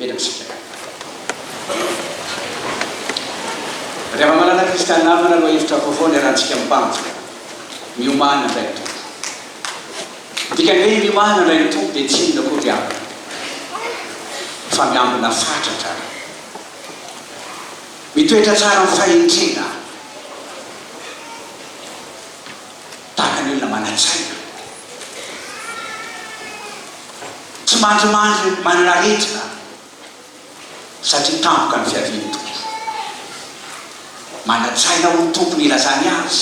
Eny amintsika. Ry hava-manana kristiana namana, lohahevitra hafa foana iarahantsika mibanjina, Miomàna handray ny Tompo. Ny dikan'ny hoe miomàna handray ny Tompo dia tsy inona koa ry havana fa miambina fatratra, mitoetra tsara amin'ny fahendrena. Tahaka ny olona manan-tsaina, tsy mandrimandry manana aretina satria tampoka ny fiavian'ny Tompo. Manan-tsaina ho tompony ilazany azy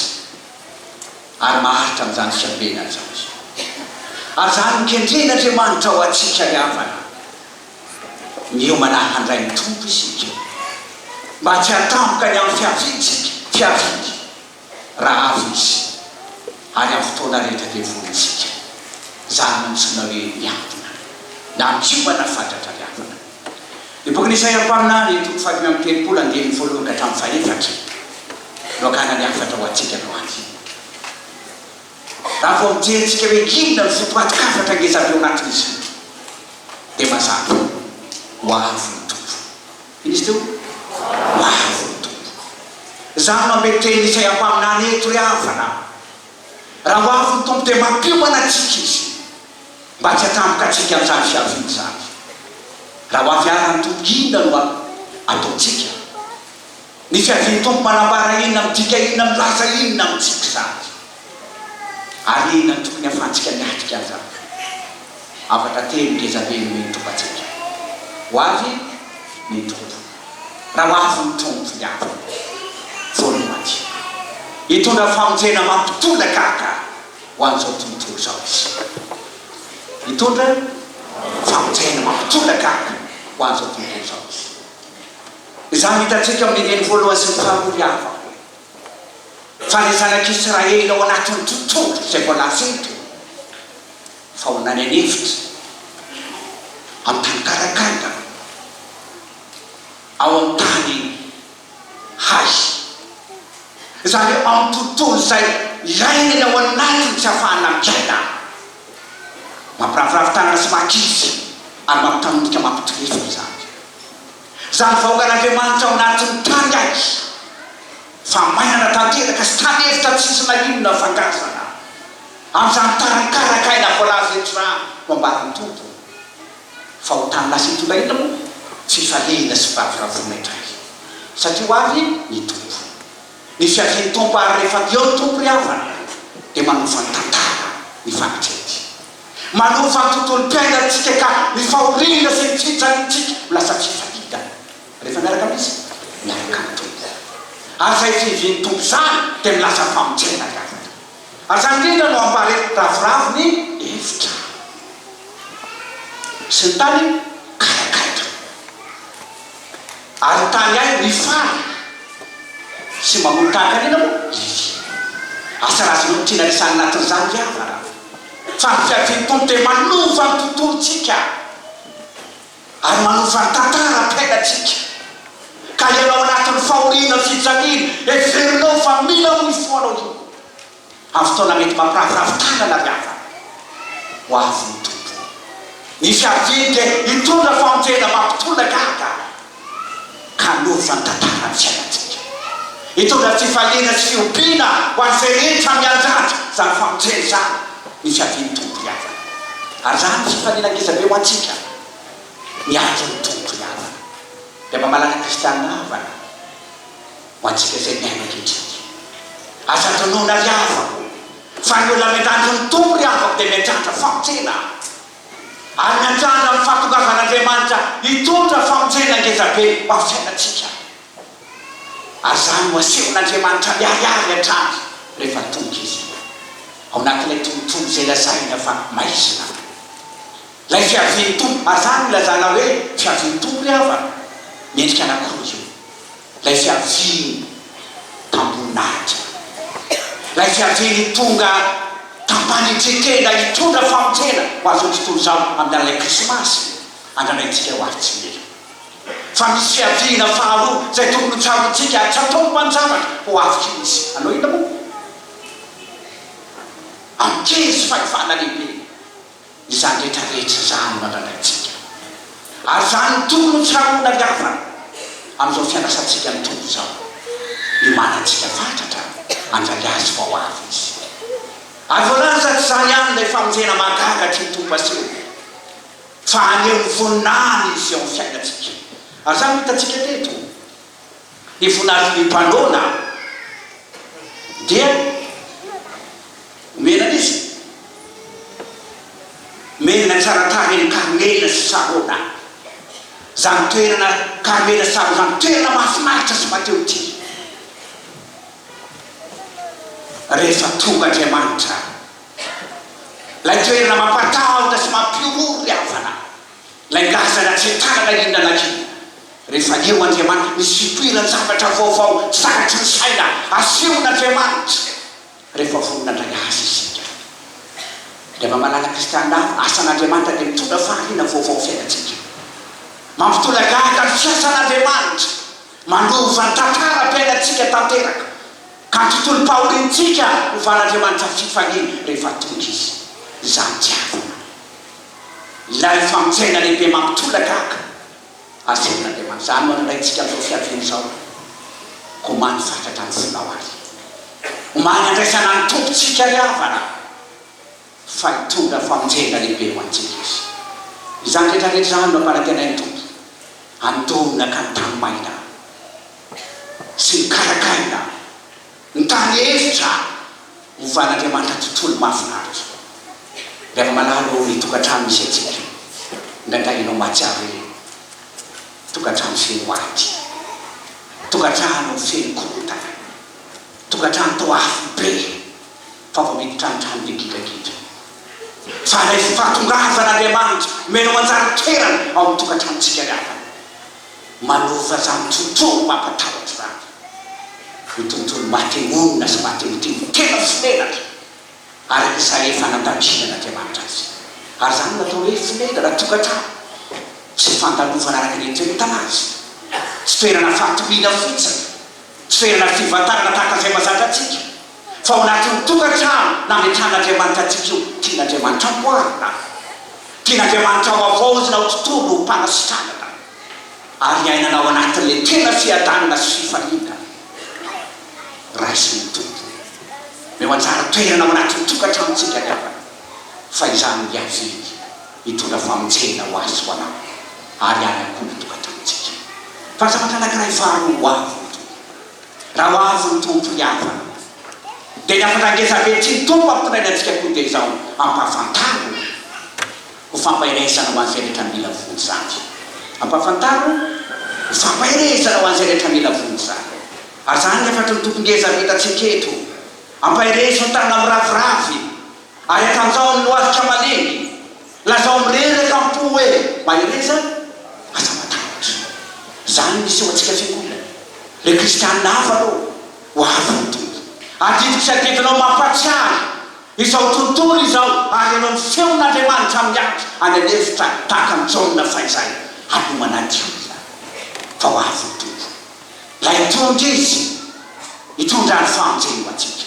ary maharitra amin'izany fiambenany izany. Ary izany no kendren'Andriamanitra ho antsika ry havana. Miomana handray ny Tompo isika mba tsy hatampoka ny amin'ny fiaviantsika, fiaviany. raha avy izy, ary amin'ny fotoana rehetra dia vonjika. Izany no antsoina hoe miadina, na miomana fatratra ny havana. Ny bokin'i Isaia mpaminany, toko fahadimy amby telopolo, andininy voalohany ka hatramin'ny fahefatra, no akana ny hafatra ho antsika androany. Raha vao mijery antsika hoe inona no fotoan-kafatra ngezabe ao anatin'izy ireo, dia mazava ho avy ny Tompo. Izy toa? Ho avy ny Tompoko. Za no mamehy teny izay ampaminany eto ry havana a! Raha ho avy ny Tompo dia mampiomana antsika Izy mba tsy hatampoka antsika amin'izany fiaviany izany. Raha ho avy ara ny Tompo inona no ataontsika? Ny fiavian'ny Tompo manambara inona, midika inona, milaza inona amintsika izany? Ary inona no tokony hafantsika ny atrika amin'izany? Hafatra telo ngezabe no mendri-tromba antsika. Ho avy ny Tompo. Raha ho avy ny Tompo, dia avy ny foana ho aty. Hitondra famonjena mampitolagaga ho an'izao tontolo izao Izy. Hitondra famonjena mampitolagaga ho an'izao tontolo izao Izy. Izany no hitantsika amin'ny andininy voalohany sy ny faharoa ry havako. Fa ny zanak'i Israely ao anatin'ity tongotro izay voalaza eto, fa ho nany an'efitra amin'ny tany karakara, ao amin'ny tany hay, izany hoe ao amin'ny tontolo izay ilaina ny ao anatiny tsy ahafahana miaina, mampiraviravy tanana sy makizy ary mampitanondrika mampitorivina izany. Izany vahoakan'Andriamanitra ao anatin'ny tany azy fa mainana tanteraka sy tany efitra tsy nisy na inona ny fangatihana amin'izany tany karaka aina voalaza eto izany no ambaran'ny Tompo fa ho tany lasa hitondra inona moa? Fifalehina sy firavoravoana indray satria ho avy ny Tompo. Ny fiavian'ny Tompo ary rehefa avy eo ny Tompo ry havana dia manova ny tantara ny fanitrety. Manova ny tontolom-piainantsika ka ny fahoriana sy ny fijaliantsika ho lasa tsy fadidana rehefa miaraka amin'iza? Miaraka amin'ny Tompo. Ary izay fiavian'ny Tompo izany dia milaza famonjena ry havana. Ary izany indrindra no ambara eto, ravoravo ny efitra sy ny tany ka akaiky. Ary tany ahy ny fary sy mamono tahakan'ina moa izy. Asa raha azonao ny tiana resahina anatin'izany ry havana a! Fa ny fiavian'ny Tompo dia manova ny tontolontsika ary manova ny tantaram-piainantsika. Ka ianao anatin'ny fahoriana, fijaliana, heverinao fa mila ho ifohanao io. amin'ny fotoana mety mampiravoravo tanana ry havana ho avy ny Tompo. Ny fiaviany dia hitondra famonjena mampitolona gaga ka hanova ny tantaran'ny fiainantsika. Hitondra fifaliana sy fiompiana ho an'ny feretra mianjady izany famonjena izany ny fiavian'ny Tompo ry havana. Ary izany fifaliana ngezabe ho antsika miandry ny Tompo ry havana. Dia mamalaka Kristianina havana. Ho antsika izay miaina ankehitriny. Aza adinoina ry havako, fa ny olona miandrandro ny Tompo ry havako dia miandrandra famonjena, ary miandrandra ny fahatongavan'Andriamanitra hitondra famonjena ngezabe ho amin'ny fiainantsika. Ary izany no asehon'Andriamanitra miharihary hatrany rehefa tonga Izy ao anatin'ilay tontolo izay lazaina fa maizina. Ilay fiavian'ny Tompo, ary izany no ilazana hoe fiavian'ny Tompo ry havana, miendrika anankiroa io. Ilay fiaviany tamboninahitra. Ilay fiaviany tonga tampanitreteina hitondra famonjena ho an'izao tontolo izao amin'ny alalan'ilay Krismasy andranaintsika ho avy tsy ela. Fa misy fiaviana faharoa izay tokony ho tsaroantsika ary tsy ataony mpanjavatra ho avy tsy misy. Hanao inona moa? Ankezy fahefana lehibe. izany rehetra rehetra izany no andradraintsika. Ary izany no tokony ho fihaonangavana amin'izao fiandrasantsika ny Tompo izao. Iomanantsika fatratra handray Azy vao avy Izy. Ary voalaza tsy izany ihany ilay famonjena mahagaga tian'ny Tompo aseho, fa haneho ny voninahiny Izy eo amin'ny fiainantsika. Ary izany no hitantsika teto. ny voninahitry ny mpanoana dia omena an'izy merina tsara tarehy ny Karmela sy Sarona, izany toerana Karmela sy Sarona izany, toerana mahafinaritra sy mahatehotia. Rehefa tonga Andriamanitra, ilay toerana mampatahotra sy mampihorohoro ny havana. Ilay laza ratsy tanana iny nanaky iny. Rehefa eo Andriamanitra, misy ipoiran-javatra vaovao zakatry ny saina asehon' Andriamanitra rehefa vonona handray Azy isika. Ilay maha malala Kristiana avo, asan' Andriamanitra dia mitondra fahariana vaovao amin'ny fiainantsika. Mampitolagaga ny fiasan' Andriamanitra, manova ny tantaram-piainantsika tanteraka, ka ny tontolom-pahoriantsika hovan'Andriamanitra fifaliana rehefa tonga Izy. Izany tiavina. Ilay famonjena lehibe mampitolaka aka asefon'Andriamanitra. Izany no anandraintsika amin'izao fiaviany izao. Koa omaly fatratra ny fonao ary. Omaly andraisana ny Tompontsika ry havana, fa hitondra famonjena lehibe ho antsika Izy. Izany rehetra rehetra izany no ampanantenain'ny Tompo. Andonaka ny tany maina sy ny karakaina. Ny tany hevitra ho van'Andriamanitra tontolo mahafinaritra. Ry hava-malala ô, ny tokantrano misy antsika, indraindray ianao mahatsiaro hoe tokantrano feno ady, tokantrano feno korontana, tokantrano toa afo be fa voamiditra amin'ny trano be gidragidra. Fa ilay fahatongavan'Andriamanitra miheno manjary toerana ao amin'ny tokantranontsika ry havana. manova izany tontolo mampatahotra izany ho tontolo maty monina sy maty motivo tena tsy menatra araka izay efa nandaminsinan'Andriamanitra azy. Ary izany no atao hoe fonenana tokantrano sy fandalovana araka ny itoeretana azy. Tsy toerana fatoriana fotsiny, tsy toerana fivantanana tahaka izay mahazatra antsika. Fa ao anatin'ny tokantrano nametran'Andriamanitra antsika io, tian'Andriamanitra amboarina aho. Tian'Andriamanitra havaozina ho tontolo ho mpanasitranana ary hiainana ao anatin'ilay tena fiadanana sy fifaliana raisin'ny Tompo. Omeo anjara toerana ao anatin'ny tokantranontsika ny havana, fa izany no hiaviany hitondra famonjena ho azy, ho anao ary any amin'ny koa ny tokantranontsika. Fa ny zavatra anankiray faharoa ho avy, Raha ho avy ny Tompo ry havana dia ny hafatra ngezabe tsy ny Tompo ampitondrainy antsika koa dia izao ampahafantaro ho fampaherezana ho an'izay rehetra mila vonjy izany. Ampahafantaro ho fampaherezana ho an'izay rehetra mila vonjy izany. Ary izany ny hafatry ny Tompo ngeza avy hitantsika eto. Ampaherezo ny tanana miraviravy ary atanjaho ny lohalika malemy. Lazao mireraka am-po hoe, Mahereza, aza matahotra. Izany no hiseho antsika Fiangonana. Ireo Kristianina hafa aloha, ho avy ny Tompo. Adidiko sy adidinao mampahatsiahy izao tontolo izao ary ianao ny feon'Andriamanitra miakatra any an'efitra tahaka an'i Jaona fahizay hanomana ny diloilo fa ho avy ny Tompo. Ilay Mpitondra Izy hitondra ny famonjeny ho antsika.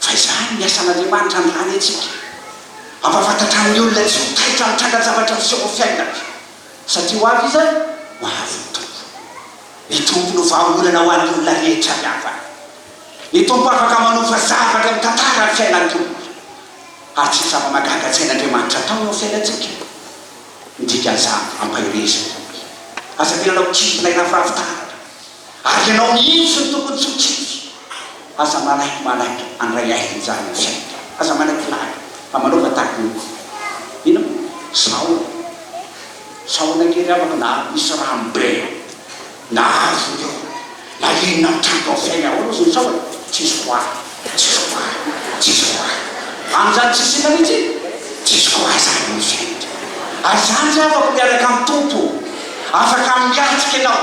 Fa izany ny asan'Andriamanitra androany antsika. Hampahafantatrany ny olona tsy ho taitra amin'ny trangan-javatra miseho amin'ny fiainana. Satria ho avy izany, ho avy ny Tompo. Ny Tompo no vahaolana ho an'ny olona rehetra avy havana. Ny Tompo afaka manofa zavatra mitantara ny fiainan'ny olona. Ary tsy zava-mahagaga tsy hain'Andriamanitra atao eo amin'ny fiainantsika ny dikan'izany, ampaherezana. Aza mila hanao kivy na hirafirafy taratra. Ary ianao mihitsy no tokony tsy ho tsitsy. Aza malaky malaky andray aina injany ny fiainana. Aza malaky laky fa manaova tahaka ny akoho. Inona? Sahona. Sahona kely amako na misy rano be ao. Na azon'ny eo. Na inona mitranga ao fiainana ahoana ozy ny sahona? Tsisy ho ahy. Tsisy ho ahy. Tsisy ho ahy. Amin'izany tsisy inona mihitsy e. Tsisy ho ahy izany ny fiainana. Ary izany tsy afaka miaraka amin'ny Tompo. Afaka miatrika ianao.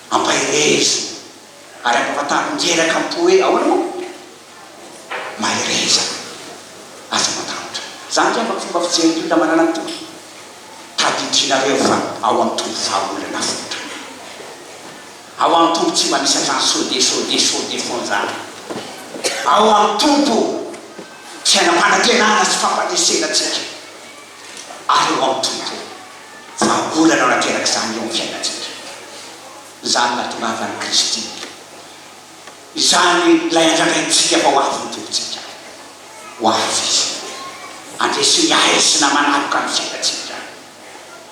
Ampaherezina ary ampahafantariny reraka am-po hoe ahoana moa? Mahereza ary tsy matahotra. Izany angamba ny fomba fijerin'ny olona manana ny Tompo. Tadidinareo fa ao amin'ny Tompo vahaolana fotra. Ao amin'ny Tompo tsy mba misy hatrany so de so de so de fonjana. Ao amin'ny Tompo fiainam-panantenana sy fampanesenatsika. ary ho amin'ny Tompo. Vahaolana nateraka izany eo amin'ny fiainantsika, izany nahatongavan'i Kristy izany ilay andrandraintsika fa ho avy ny Tompontsika. Ho avy Izy, handresy ny haizina manaloka ny fiainantsika.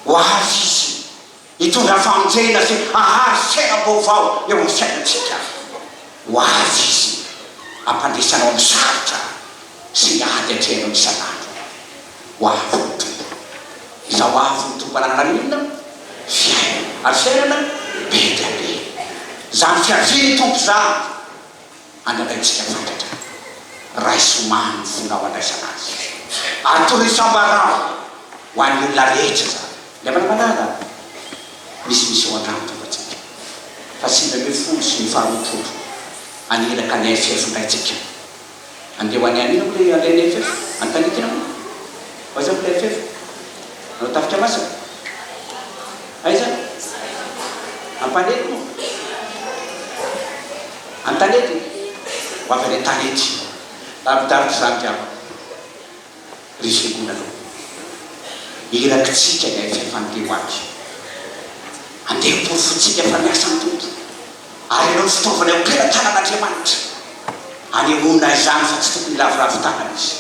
Ho avy Izy. Hitondra famonjena sy hahazo fiainam-baovao eo amin'ny fiainantsika ho avy Izy, hampandresy anao amin'ny sarotra sy ny ady atrehinao isan'andro. Ho avy ny Tompo. Iza ho avy ny Tompo hananana ny inona? Fiainana, ary fiainana be dia be. Izany fiavian'ny Tompo izany. Anadahintsika fatratra, raiso omaly ny fonao handraisana azy. Ary toriso ambarao ho an'ny olona rehetra izany. Ilay manamalala misimisy ao an-trano tombantsika. Fa sivy ambin'ny folo sy ny faha roapolo any iraka ny FF indray tsika. Andeha ho any anina moa ilay alain'ny FF? Any Tanikina moa? Ho aiza moa ilay FF? Ao Tafika Masina? Aiza? Ampanety moa? Antanety? Ho avy any Antanety. Lavidavitra izany ry havana. Ry fiangonana ô! Irakitsika ilay fifantehoany. Andeha hoporofointsika fa miasa ny Tompo, ary ianao fitaovana eo am-pelatanan'Andriamanitra. Anehoana izany fa tsy tokony hiraviravy tanana Izy.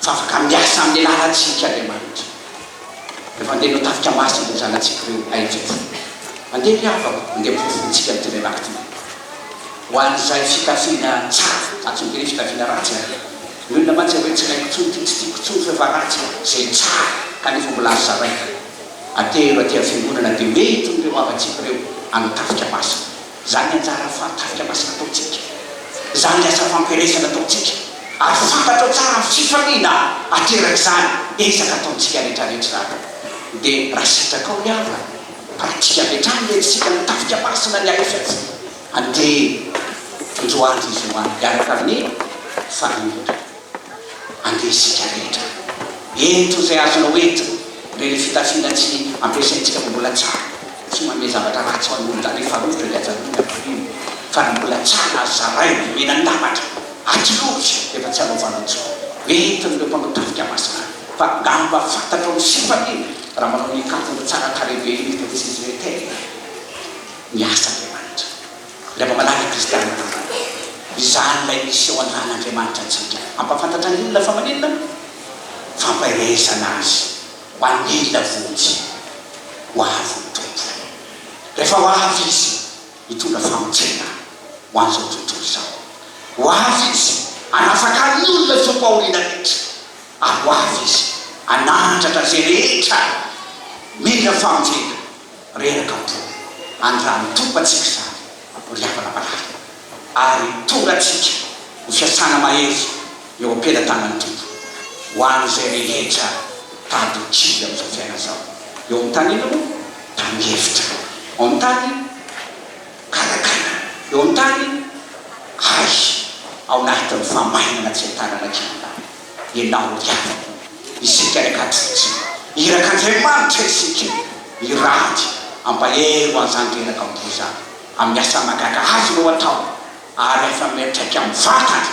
Fa afaka miasa amin'ny lalantsika Andriamanitra. Dia mandeha ireo tafika masina ireo zanatsika ireo na efa-polo. Mandeha ry havako, mandeha ampirofon-tsika ny teny rakitra. Ho an'izay fitafiana tsara, za tsy mitery fitafiana ratsy an! Ny olona mantsy hoe tsy ilaiko intsony ity, tsy tiako intsony fa efa ratsy e! Izay tsara kanefa mbola azo zaraina. Atero aty amin'ny fiangonana dia ho entin'ireo havantsika ireo amin'ny tafika masina. Izany anjara fahan-tarika masina ataontsika, izany ny asa fampielezana ataontsika, ary fantatrao tsara ny fifaliana aterak'izany ezaka ataontsika rehetrarehetra izany. Dia raha sitrakao ny havana, pratika avy hatrany ny entitsika ny tafika masina ny alefy atsy. Andeha, Androany izy ho any, hiaraka amin'ny Fanahy Manokana. Andeha isika rehetra. Ento izay azonao entina. Indray ilay fitafiana tsy ampiasaintsika no mbola tsara. Tsy manome zavatra ratsy ho an'olona any Farofitra ilay ajanony atoriany. Fa ny mbola tsara azo zaraina, omena ny lafatra. Atsy lavitra dia efa tsy hanaovanao intsony. Entin'ireo mpanao tafika masina any. Fa angamba fantatrao ny sifany iny raha manao ny kavina tsara tarehy be iny eto amintsika izy rehetra e! Miasa Andriamanitra. Ilay mba malaza kristianina tanteraka. Izany ilay miseho an'Andriamanitra antsika. Hampahafantatra ny olona fa maninona? Fampaherezana Azy ho an'ny olona vonjy ho avy ny Tompo. Rehefa ho avy Izy, hitondra famonjena ho an'izao tontolo izao. Ho avy Izy hanafaka ny olona izao fahoriana rehetra. Ary ho avy Izy hanandratra izay rehetra mila famonjena. Reraka am-po. Andramo topantsika izany ry havana marary, ary tonga antsika ho fiasana mahery eo am-pelatanan'ny Tompo, ho an'izay rehetra tady kivy amin'izao fiainana izao. Eo amin'ny tany inona moa? Tany efitra. Eo amin'ny tany garagarana. Eo amin'ny tany hay, ao anatin'ny fahamainana tsy ahitanana kianina. Ianao ihany isika ry Katsitsy, Iraka Andriamanitra isika, Irady ampahery ho an'izany reraka am-po izany, amin'ny asa mahagaga azy no atao, ary afa miantraika amin'ny vatany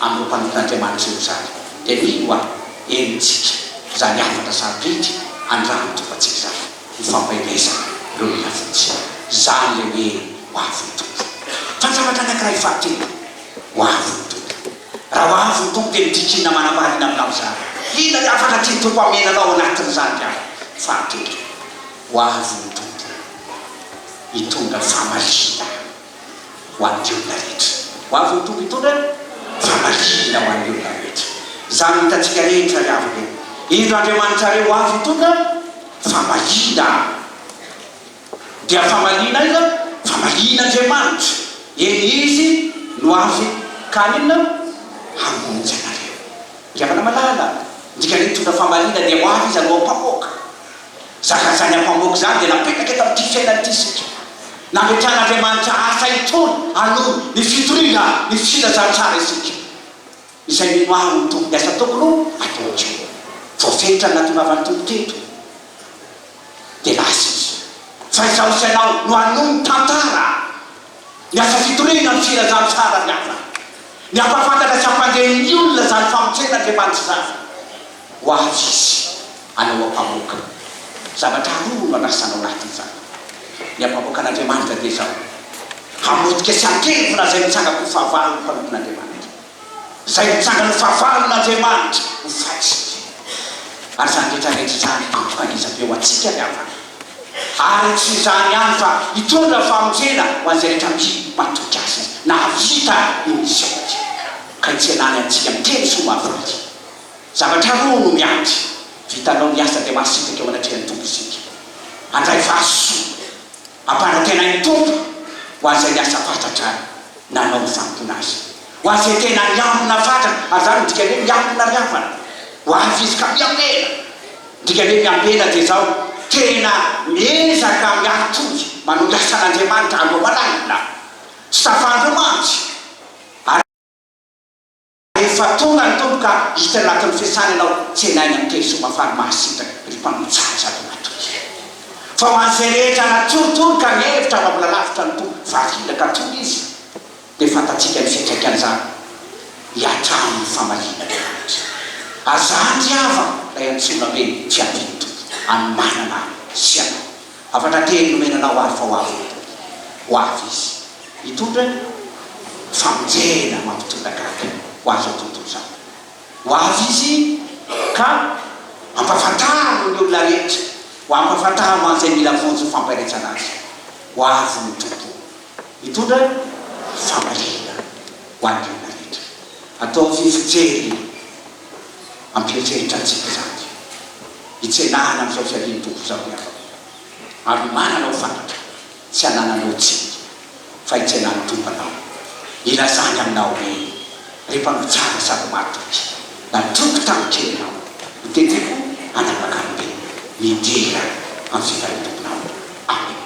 amin'ireo mpanompon'Andriamanitra ireo izany, dia mino aho henontsika izany hafatra sarobidy handrava-tovantsika izany, ny fampaherezana ireo mila vonjy. Izany ilay hoe ho avon'ny Tompo. Fa ny zavatra anankiray fahatelo, ho avon'ny Tompo. Raha ho avy ny Tompo dia midritrina manam-pahariana aminao izany. Inona ny hafatra tian'ny Tompo hamena anao ao anatin'izany ry ahy? Fahatelo, ho avy ny Tompo hitondra famarinana ho an'ny olona rehetra. Ho avy ny Tompo hitondra famarinana ho an'ny olona rehetra. Izany no hitantsika rehetra ry havana e! Indro Andriamanitrareo ho avy hitondra famarinana. Dia famaliana aiza? Famaliana Andriamanitra. Eny Izy no avy ka haninona? Hamonjy anareo. Ry havana malala, ny dikan'ny hoe nitondra famaliana dia ho avy Izy hanao ampamoaka. Zaka izany ampamoaka izany dia napetaka eto amin'ity fiainana ity isika. Nametrahan'Andriamanitra asa itony hanohy ny fitoriana ny filazantsara isika. Izay mimaha ny Tompo ny asa ataoko no ataontsika. Voafenitra ny natongavan'ny Tompo teto. Dia lasa Izy. Fa izaho sy ianao no hanohy ny tantara, ny asa fitoriana ny filazan'ny fahalalana, ny hampahafantatra sy hampandre ny olona izany famonjen'Andriamanitra izany. Ho avy Izy, hanao ampamoaka. Zavatra roa no handrasana ao anatin'izany. Ny ampamoakan'Andriamanitra dia izao, Hamotika sy hankelvona izay mitsangako ho fahavalon'ny mpanompon'Andriamanitra. izay nitsangan'ny fahavalon'Andriamanitra ho fahatsika, ary izany rehetra rehetra izany tampoka dia zabe ho antsika ny havana, ary tsy izany ihany fa hitondra famonjena ho an'izay rehetra mby matoky Azy nahavita io misiona io, ka hitsenany antsika miteny soa mahafady. Zavatra roa no miandry, vitanao ny asa dia mahasitraka eo anatrehan'ny Tompo isika. Handray valisoa. Ampanantenain'ny Tompo ho an'izay niasa fatratra nanao ny fanompoana Azy, ho an'izay tena niambina fatratra, ary izany midika hoe miambina ry havana, ho avy izy ka miambena. Midika hoe miambena dia izao, tena miezaka miatoky manao ny asan'Andriamanitra aloha malaina, tsy tafan'ireo mantsy, ary. Efa tonga ny Tompo ka hita anatin'ny fiasany ianao, tsenainy amin'ny teny soa mafana mahasitrana ry mpanao tsara sady matoky. Fa ho an'izay rehetra natoritory ka nihevitra fa mbola lavitra ny Tompo variana ka tony izy, dia fantatsika ny fiantraikan'izany, hiatrano ny famalinana ny rehetra. Azany ry havana ilay antsoina hoe fiavian'ny Tompo, hanomanana ahy sy ianao. Hafatra kely nomena anao ary fa ho avy eto. Ho avy izy. Hitondra ny famonjena mampitondra gaga ho azy ao tontolo izany. Ho avy izy ka hampahafantariny ny olona rehetra, ho hampahafantariny ho an'izay mila vonjy ny fampaherezana azy. Ho avy ny Tompo. Hitondra ny famaliana ho an'ny olona rehetra. Ataovy fijery. Ampieritreritra antsika izany dia hitsenahana amin'izao fiavian'ny Tompo izao ny afo ira, ary manana ho fantatra, tsy anananao tsiny, fa hitsenan'ny Tompo anao, hilazany aminao hoe, Ry mpanao tsara sady matoky, natroko tamin'ny kely ianao, noteteko hanapaka ny tenako, midera amin'ny fitahian'ny Tomponao. Amena.